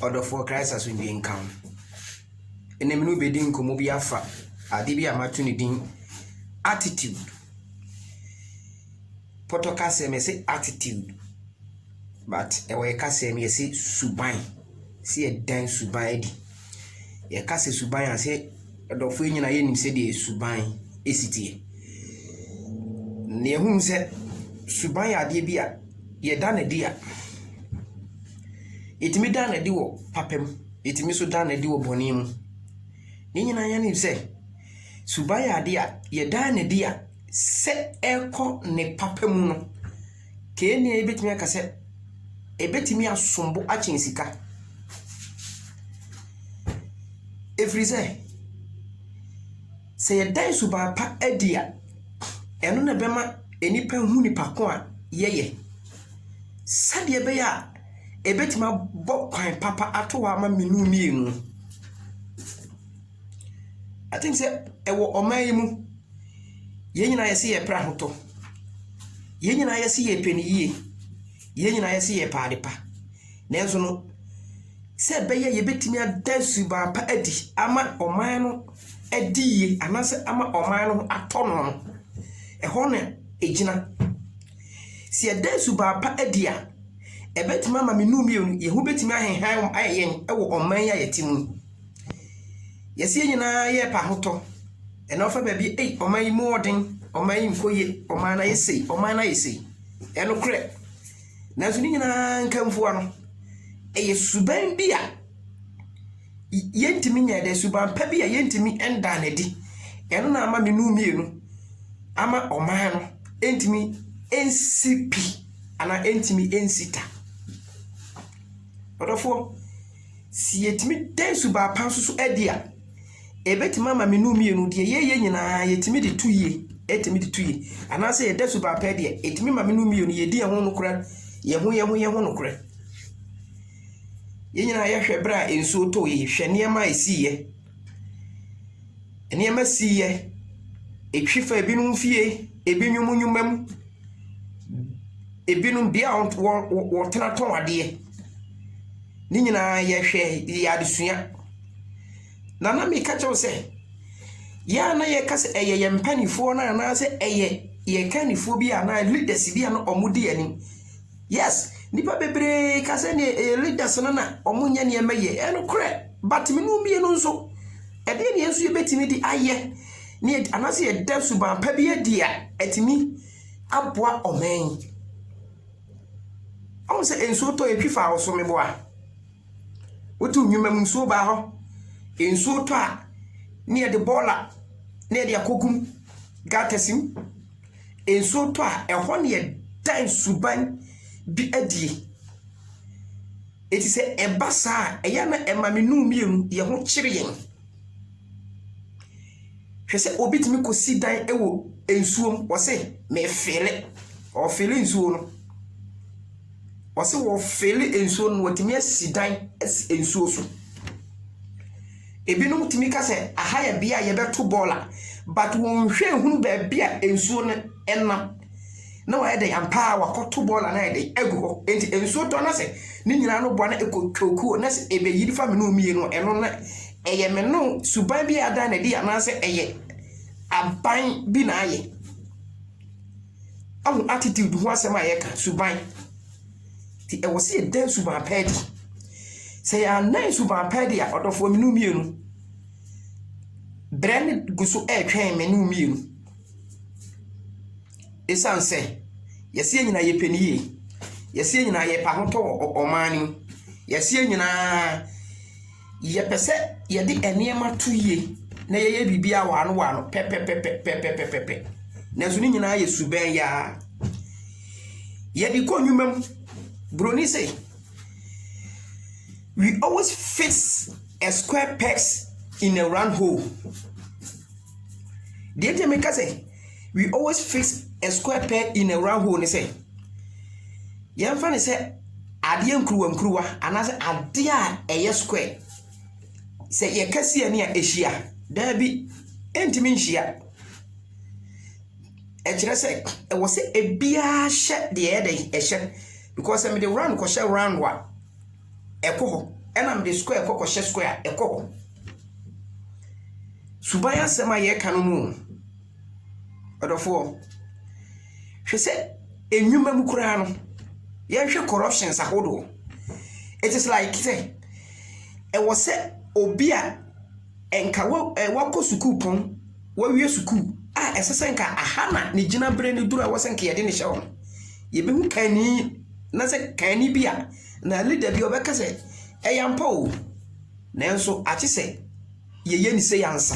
Ɔdɔfoɔ, Christ asomdwie nka wo. Ɛnɛ me ne wo bɛdi nkɔmmɔ bi afa ade bi a mato ne din attitude. Pɔtɔ kasɛm yɛse attitude, but ɛwɔ yɛ kasɛm yɛse suban, sɛ yɛdan suban adi. Yɛka sɛ suban a, sɛ adɔfoɔ yi nyinaa yɛnim sɛdeɛ suban si teɛ. Na yɛhunu sɛ suban yɛ adeɛ bi a yɛda no adi a, yɛtumi da no adi wɔ papa mu, yɛtumi nso da no adi wɔ bɔne mu. Yɛn nyinaa yɛnim sɛ suban yɛ adeɛ a yɛda no adi a sɛ ɛrekɔ ne papa mu no, Kenyan yi bɛtumi aka sɛ, ɛbɛtumi asom bo akyɛn sika. Ɛfiri sɛ, sɛ yɛda suban pa adi a, ɛno na ɛbɛma nnipa ahu nipa ko a yɛyɛ. Sɛdeɛ ɛbɛyɛ a ɛbɛtumi abɔ kwan papa ato hɔ ama me ne wo mmienu. I think sɛ ɛwɔ ɔman yi mu, yɛn nyinaa yɛse yɛpɛ ahotɔ, yɛn nyinaa yɛse yɛpɛ no yie, yɛn nyinaa yɛse yɛpɛ ade pa. Nanso no, sɛ ɛbɛyɛ yɛbɛtumi ada suban pa adi ama ɔman no adi yie anaasɛ ama ɔman no ho atɔ no no, ɛhɔ na ɛgyina. Sɛ yɛda suban pa adi a, ɛbɛtumi ama me ne wo mmienu, yɛn ho bɛtumi ahehan ayɛ yɛn wɔ ɔman yi a yɛte mu yi. Yɛse yɛn nyinaa yɛɛpɛ ahotɔ, ɛna wofa baabi ei ɔman yi mu ɔɔden, ɔman yi nkɔ yie, ɔman no ayɛ sei, ɔman no ayɛ sei. Ɛyɛ nokorɛ. Nanso ne nyinaa nkanfowa no, ɛyɛ suban bi a yɛntumi nyɛɛ dɛ, suban pa bi a yɛntumi ndaa no adi. Ɛno na ama me nu mmienu ama ɔman no ɛntumi ɛnsi pi anaa ɛntumi ɛnsi ta. Ɔdɔfoɔ. Sɛ yɛtumi da nsubaa pa nso so adi a, ɛbɛtumi ama menu mmienu, deɛ yɛyɛ nyinaa yɛtumi de to yie, ɛtumi de to yie. Anaasɛ yɛda subaa pa adi a, ɛtumi ma menu mmienu, yɛdi yɛn ho nokorɛ, yɛn ho yɛn ho yɛn ho nokorɛ. Yɛn nyinaa yɛhwɛ berɛ a nsuo tɔeɛ, hwɛ nneɛma a ɛsiiɛ. Nneɛma siiɛ, ɛtwi faa binom fie, ɛbinom nnwuma mu, ɛbinom bea a wɔ wɔ wɔtena tɔn adeɛ. Ne nyinaa yɛhwɛ yɛɛ adesua. Na na meka kyerɛ wo sɛ, yɛ a na yɛka sɛ ɛyɛ yɛn mpaninfoɔ no anaasɛ ɛyɛ yɛn kannifoɔ bi a anaa leaders bi a na wɔdi yɛn anim. Yes nipa bebree ka sɛ neɛ ɛyɛ leaders no na ɔmo nyɛ nneɛma yie ɛnokorɛ but mene mmienu nso ɛdeɛ neɛ nso yɛbɛtumi de ayɛ ne anaasɛ yɛda suban pa bi adi a ɛtumi aboa ɔman yi ɔmo sɛ nsuo tɔ yɛtwi fa ɔso meboa wote nnwuma mu nsuo baa hɔ nsuo tɔ a ne yɛde bɔɔla ne yɛde akɔgum gatasim. Nsuo tɔ a, ɛhɔ na yɛda nsuban bi adie. Enti sɛ ɛba saa a, ɛyɛ a na ɛma me nnum mmienu, yɛn ho kyere yɛn. Hwɛ sɛ obi tumi kɔsi dan wɔ nsuo mu, ɔse mefeele. Ɔfeele nsuo no. Ɔse wɔfeele nsuo no na watumi asi dan asi nsuo so. Ebinom tumi ka sɛ aha yɛ bea a yɛbɛto bɔɔl a, but wɔnhwɛ nhunu baabi a nsuo no nam. Na wɔayɛ dɛn ampa ara wɔakɔto bɔɔl a na ayɛ dɛn agu hɔ. Enti nsuo tɔ na sɛ ne nyinaa no boa na ɛkɔ twokuo na sɛ ɛbɛyiri fa mene wo mmienu a, ɛno na ɛyɛ mene wo. Suban bi a adan no adi anaasɛ ɛyɛ aban bi na ayɛ. Ahu attitude ho asɛm a yɛka, suban. Nti ɛwɔ sɛ yɛda nsuban pa adi. Sɛ yɛanna nsuban pa adi a, ɔdɔfoɔ me ne wo mmienu, berɛ no gu so retwɛn me ne wo mmienu. Ɛsiane sɛ yɛse yɛn nyinaa yɛpɛ ne yie, yɛse yɛn nyinaa yɛpɛ ahotɔ wɔ ɔman no mu, yɛse yɛn nyinaa. Yɛpɛ sɛ yɛde nneɛma to yie na yɛyɛ biribiara waano waano pɛpɛpɛpɛpɛpɛpɛ. Nanso ne nyinaa yɛ subɛn yaa. Yɛde kɔ nnwuma mu. Buroni se, We always fix a square pegs in a round hole. Deɛ nti a meka sɛ. we always fix a square peg in a round hole ne sɛ, yɛmfa ne sɛ adeɛ nkuruwa nkuruwa anaasɛ adeɛ a ɛyɛ square. Sɛ yɛka si ani a ɛhyia, daabi, ɛntumi nhyia. Ɛkyerɛ sɛ ɛwɔ sɛ ebiara hyɛ deɛ ɛyɛ dɛn ɛhyɛ because sɛ mede round kɔhyɛ round a ɛkɔ hɔ ɛna mede square kɔ kɔhyɛ square a ɛkɔ hɔ. Suban asɛm a yɛreka no mu. Ɔdɔfoɔ, hwɛ sɛ nnwuma mu koraa no, yɛnhwɛ corruptions ahodoɔ. It is like sɛ, ɛwɔ sɛ obi a nka wa ɛ wakɔ sukuupɔn, wawie sukuu a ɛsɛ sɛ nka aha na ne gyinaberɛ no duru a ɛwɔ sɛ nka yɛde no hyɛ hɔ no, yɛbɛhu kanni na sɛ kanni bi a anaa leader bi a ɔbɛka sɛ, ɛyɛ ampa o, nanso agye sɛ. yɛyɛ ne sei ansa.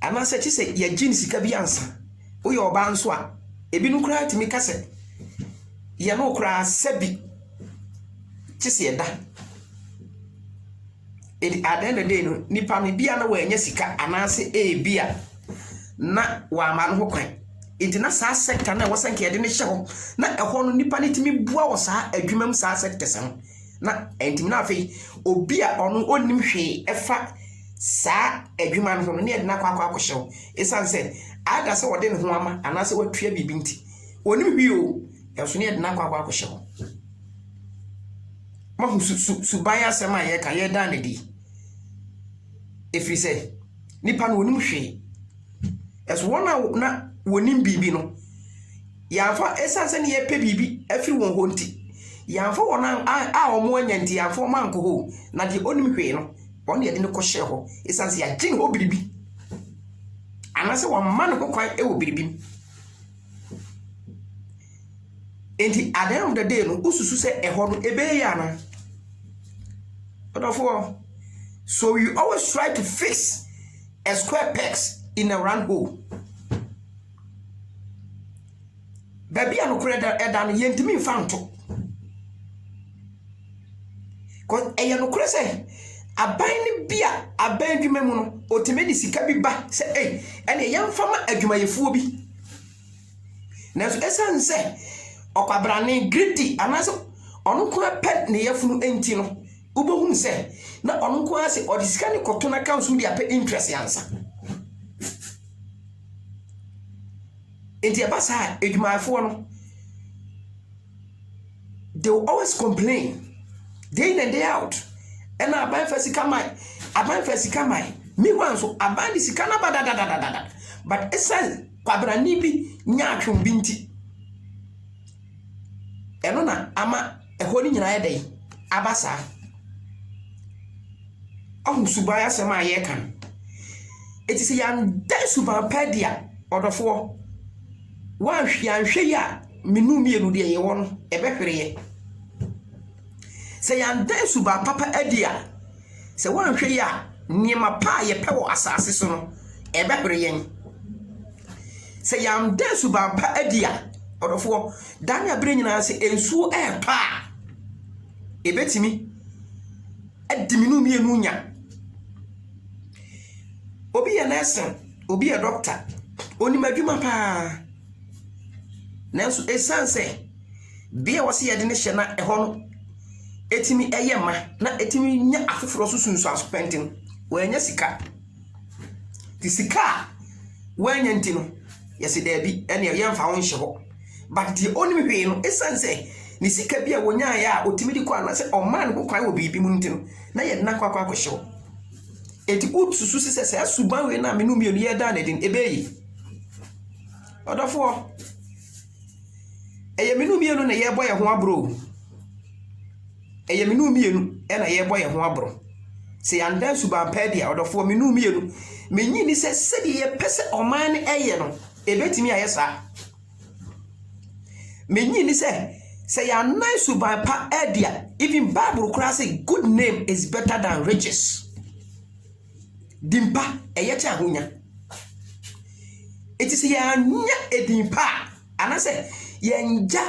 Anaasɛ kye sɛ yɛgye ne sika bi ansa. Woyɛ ɔbaa nso a, ebinom koraa tumi ka sɛ, yɛ no koraa sɛbi kye sɛ ɛda. Ɛdi at the end of the day no, nipa no ebia na wanya sika anaasɛ ebia na wama no ho kwan. Nti na saa sector no a ɛwɔ sɛ nka yɛde no hyɛ hɔ na ɛhɔ no nipa no tumi boa wɔ saa adwuma mu saa sectors no. na ɛntimi na afei obi a ɔno ɔnnim hwee ɛfa saa adwuma no ho no ne ɛde no akɔ akɔ akɔhyɛ wo ɛsiane sɛ ada sɛ ɔde ne ho ama anaasɛ watua biribi nti ɔnim hwee o ɛnso ne ɛde no akɔ akɔ akɔhyɛ wo mahu su, su, suban asɛm a yɛka yɛda no di ɛfiri sɛ nipa no ɔnim hwee ɛso wɔn a na wɔnim biribi no Yɛamfa, ɛsiane sɛ na yɛpɛ biribi afiri wɔn hɔ nti, yɛamfa wɔn an, a, a wɔanya nti, yɛamfa wɔn ankɔ hɔ o, na deɛ ɔnnim hwee no, ɔno na yɛde no kɔhyɛɛ hɔ, ɛsiane sɛ yɛagye ne hɔ biribi, anaasɛ wɔama ne ho kwan wɔ biribi mu. Enti, at the end of the day no, wosusu sɛ ɛhɔ no, ɛbɛyɛ yie anaa? Ɔdɔfoɔ, so you always try to fix a square pegs in a round hole. Baabi a nokorɛ da ɛda no yɛntumi nfa nto. Kɔ ɛyɛ nokorɛ sɛ aban no bi a aban adwuma mu no ɔtumi de sika bi ba sɛ ei ɛnneɛ yɛmfa ma adwumayɛfoɔ bi. Nanso ɛsiane sɛ ɔkwabrane, greedy, anaasɛ ɔno nko ara pɛ ne yafunu nti no, wobɛhunu sɛ na ɔno nko ara sɛ ɔde sika no kɔto n'accounts mu de apɛ interest ansa. nti ɛba saa a adwumayɛfoɔ no they will always complain day in and day out ɛna aban fa sika mae aban fa sika mae meanwhile nso aban de sika no aba dadadadada but ɛsiane kwabrane bi nyaatwom bi nti Ɛno na ama ɛhɔ no nyinaa ayɛ dɛn? Aba saa. Wahu suban asɛm a yɛreka no? Enti sɛ yɛanda suban pa adi a, ɔdɔfoɔ, woanhwɛ yɛanhwɛ yie a, me nnum mmienu deɛ yɛwɔ no, ɛbɛhwere yɛ. Sɛ yɛanda suban papa adi a, sɛ woanhwɛ yie a, nneɛma pa a yɛpɛ wɔ asase so no, ɛbɛhwere yɛn. Sɛ yɛanda suban pa adi a, ɔdɔfoɔ, da ne abere nyinaa sɛ nsuo retɔ a, ɛbɛtumi adi me ne wo mmienu nya. Obi yɛ nursing, obi yɛ doctor, onim adwuma paa. Nanso ɛsiane sɛ bea a wɔsi yɛde no hyɛ na ɛhɔ no ɛtumi ɛyɛ ma na ɛtumi nya afoforɔ so sunsuanso pɛnten, wɔanya sika. Nti sika a woanya nti no, yɛse daabi, ɛnneɛ yɛmfa wo nhyɛ hɔ. But deɛ ɔnnim hwee no, ɛsiane sɛ ne sika bi a ɔnyaeɛ a ɔtumi de kɔ anaasɛ ɔmaa ne ho kwan wɔ biribi mu nti no, na yɛde no akɔ akɔ akɔhyɛ hɔ. Enti wosusu se sɛ saa suban wei no a me no mmienu yɛdaa no adi no, ɛbɛyɛ yie? Ɔdɔfoɔ, ɛyɛ me no mmienu na yɛrebɔ yɛn ho aborɔ o. Ɛyɛ me ne wo mmienu na yɛrebɔ yɛn ho aboro. Sɛ yɛanda suban pa adi a, ɔdɔfoɔ, me ne wo mmienu, mennye nni sɛ sɛdeɛ yɛpɛ sɛ ɔman no yɛ no, ɛbɛtumi ayɛ saa. Mennye nni sɛ, sɛ yɛannan suban pa adi a, even Bible koraa se, Good name is better than riches. Din pa, ɛyɛ kyɛ ahonya. Enti sɛ yɛannya edin pa a, anaasɛ yɛannya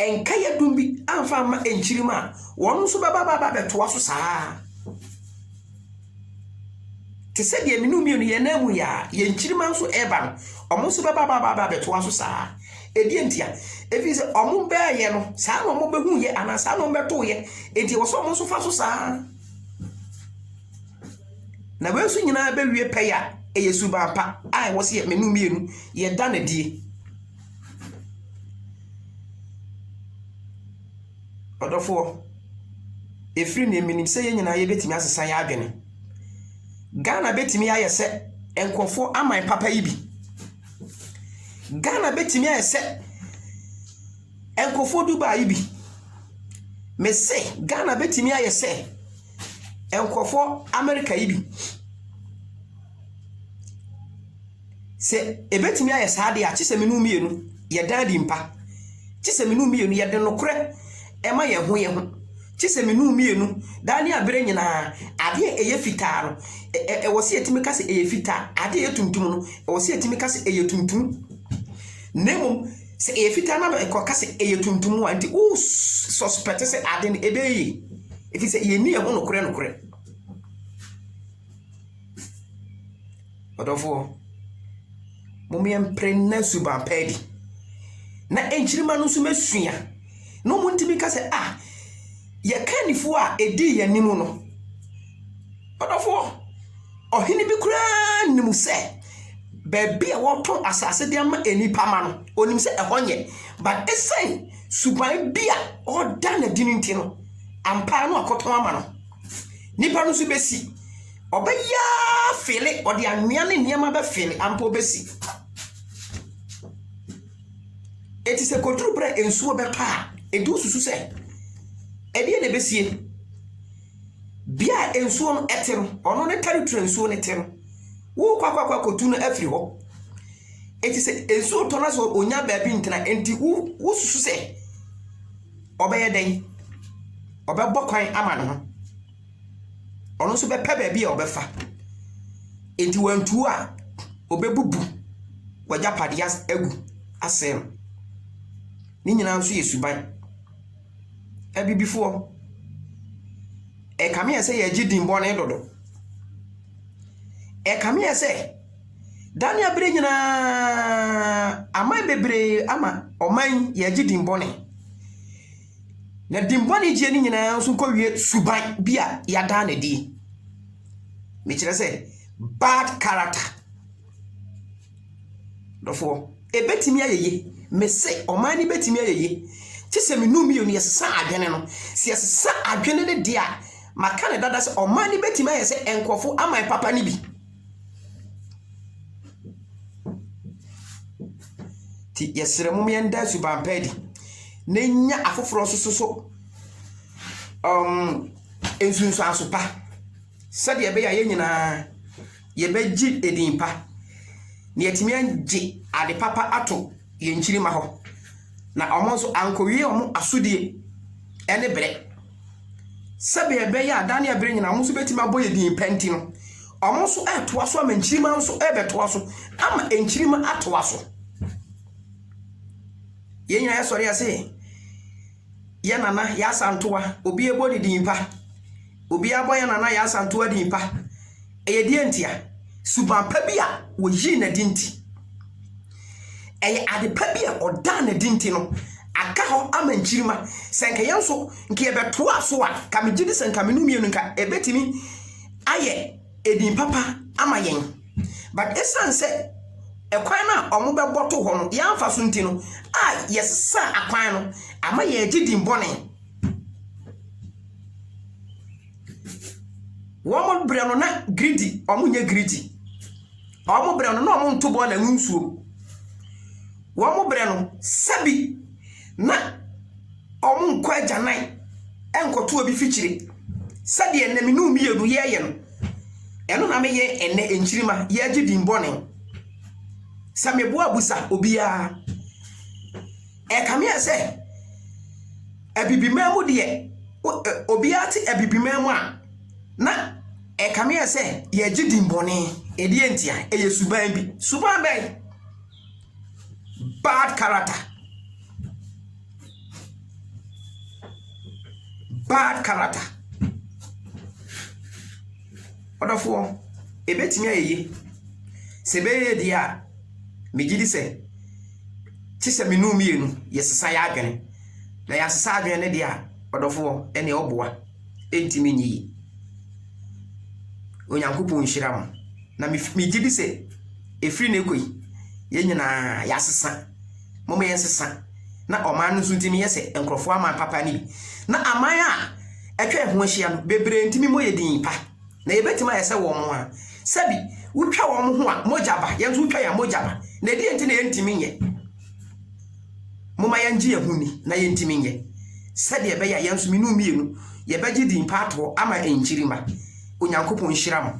nkaeɛ dum bi amfa amma nkyirim a, wɔn nso bɛba bɛba abɛtoa so saa ara. Te sɛ deɛ me ne wo mmienu yɛn nan mu yɛ a, yɛn nkyirimma nso reba no, wɔn nso bɛba bɛba bɛba abɛtoa so saa ara. Ɛdeɛ nti a, ɛfiri sɛ wɔn bɛɛyɛ no, saa na wɔbɛhuiɛ anaa saa na wɔbɛtoeɛ, enti ɛwɔ sɛ wɔn nso fa so saa ara. Na wei nso nyinaa bɛwie pɛyɛ a, ɛyɛ suban pa a ɛwɔ sɛ me ne wo mmienu yɛda no adie. Ɔdɔfoɔ, ɛfiri neɛ menim sɛ yɛn nyinaa yɛbɛtumi asesa yɛn adwene. Ghana bɛtumi ayɛ sɛ nkurɔfoɔ aman papa yi bi. Ghana bɛtumi ayɛ sɛ. Nkurɔfoɔ Dubai yi bi. Me se Ghana bɛtumi ayɛ sɛ nkurɔfoɔ America yi bi. Sɛ ɛbɛtumi ayɛ saa deɛ a, gye sɛ me ne wo mmienu yɛdan adi mpa. Gye sɛ me ne wo mmienu yɛde nokorɛ ma yɛn ho yɛn ho. Gye sɛ me ne wo mmienu daa ne abere nyinaa adeɛ a ɛyɛ fitaa no, ɛ ɛ ɛwɔ sɛ yɛtumi ka sɛ ɛyɛ fitaa, adeɛ a ɛyɛ tuntum no, ɛwɔ sɛ yɛtumi ka sɛ ɛyɛ tuntum. Na mmom. Sɛ ɛyɛ fitaa na ɛkɔ ka sɛ ɛyɛ tuntum a, nti wo suspect sɛ ade no ɛbɛyɛ yie. Ɛfiri sɛ yɛnni ɛho nokorɛ nokorɛ. Ɔdɔfoɔ, mom yɛmpere na suban pa adi. Na nkyirima no nso mɛsua. Na wɔntumi ka sɛ, ah, yɛka nifuo a ɛdii yɛn anim no. Ɔdɔfoɔ, ɔhene bi koraa nim sɛ baabi a wɔtɔn asase de ama nnipa ma no, ɔnim sɛ ɛhɔ nyɛ. But ɛsiane suban bi a ɔda no adi no nti no, ampa no akɔtɔn ama no. Nnipa no nso bɛsi. Ɔbɛyɛ fele, ɔde anwea ne nneɛma bɛfele, ampa ɔbɛsi. Eti sɛ koduru berɛ a nsuo bɛpa a, edu susu sɛ ɛdeɛ na ɛbɛsie. Bea a nsuo no te no, ɔno ne tɛritri a nsuo no te no. Worekɔ akɔ akɔtu no afiri hɔ. Enti sɛ nsuo tɔ no a sɛ ɔnnya baabi ntena. Enti wo wosusu sɛ ɔbɛyɛ dɛn? Ɔbɛbɔ kwan ama ne ho. Ɔno nso bɛpɛ baabi a ɔbɛfa. Enti wantu a, ɔbɛbubu w'agyapadeɛ as agu asɛe no. Ne nyinaa nso yɛ suban. Abibifoɔ, ɛkame yɛ sɛ yɛgye din bɔne dodo. Ɛkame yɛ sɛ, da ne abere nyinaa aman bebree ama ɔman yɛgye din bɔne. Na din bɔne gyeɛ no nyinaa nso kɔwie suban bi a yɛadaa no adie. Mekyerɛ sɛ, bad character. Dɔfoɔ, ɛbɛtumi ayɛ yie. Mese ɔman no bɛtumi ayɛ yie. Gye sɛ me nnum mmienu yɛsesa adwene no. Sɛ yɛsesa adwene no deɛ a, maka no dada sɛ ɔman no bɛtumi ayɛ sɛ nkurɔfoɔ aman papa no bi. Nti yɛsrɛ mo yɛnda suban pa adi na nya afoforɔ nso so um, nsunsuanso pa sɛdeɛ ɛbɛyɛ a yɛn nyinaa yɛbɛgye edin pa, na yɛatumi agye ade papa ato yɛn nkyirimma hɔ, na wɔn nso ankowie wɔn asodie ne berɛ. Sɛdeɛ ɛbɛyɛ a da ne ɛberɛ nyinaa wɔn nso bɛtumi abɔ yɛn din pa nti no, wɔn nso retoa so ama nkyirimma nso rebɛtoa so ama nkyirimma atoa so. Yɛn nyinaa yɛsɔre yɛse, Yɛ Nana yɛ asantoa obi ɛbɔ ne din pa obi abɔ yɛ Nana yɛ asantoa din pa ɛyɛ deɛ ntia suban pa bi a wɔyii na din ti ɛyɛ ade pa bi a ɔdaa na din ti no aka hɔ ama nkyirima sɛ nka yɛn nso nka yɛbɛtoa so a ka megye di sɛ nka menu mmienu nka ɛbɛtumi ayɛ edin papa ama yɛn but esiane sɛ ɛkwan no a wɔbɛbɔ to hɔ no yɛamfa so nti no a yɛsesaa akwan no ama yɛagye din bɔne. Wɔn berɛ no na giridi wɔn nyɛ giridi. Wɔn berɛ no na wɔn nto bɔɔla ngu nsuo. Wɔn berɛ no sɛbi na wɔnkɔ agyanan nkɔto obi fikyiri sɛdeɛ ɛnnɛ me ne wo mmienu yɛreyɛ no. Ɛno na meyɛ ɛnnɛ nkyirimma yɛregye din bɔne. Sɛ meboa busa obiara ɛkame ayɛ sɛ abibiman mu deɛ obiara te abibiman mu a na ɛkame ayɛ sɛ yɛregye din bɔne. Ɛdeɛ ntia? Ɛyɛ suban bi. Suban bɛn? Bad character. Bad character. Ɔdɔfoɔ, ɛbɛtumi ayɛ yie. Sɛ ɛbɛyɛ deɛ a, megye di sɛ, kye sɛ me nu mmienu, yɛsesa yɛ adwene. Na yɛasesa adwene no deɛ a, ɔdɔfoɔ, ɛneɛ ɔboa. Ɛntumi nyɛ yie. Onyankopɔn nhyira mo. Na megye di sɛ, Ɛfiri nnɛ rekɔ yi, yɛn nyinaa, yɛasesa. Momma yɛnsesa, na ɔman no nso nti no yɛ sɛ nkurɔfoɔ aman papa no bi. Na aman a atwa yɛn ho ahyia no, bebree ntumi mmɔ yɛn din pa. Na yɛbɛtumi ayɛ sɛ wɔn a, sɛbi, wotwa wɔn ho a, mogya ba, yɛn nso wotwa yɛn a, mogya ba. Na ɛdeɛn nti na yɛntumi nyɛ? Momma yɛngye yɛn ho nni na yɛntumi nyɛ, sɛdeɛ ɛbɛyɛ a yɛn nso, me ne wo mmienu, yɛbɛgye din pa ato hɔ ama nkyiri mma. Onyankopɔn nhyira mo.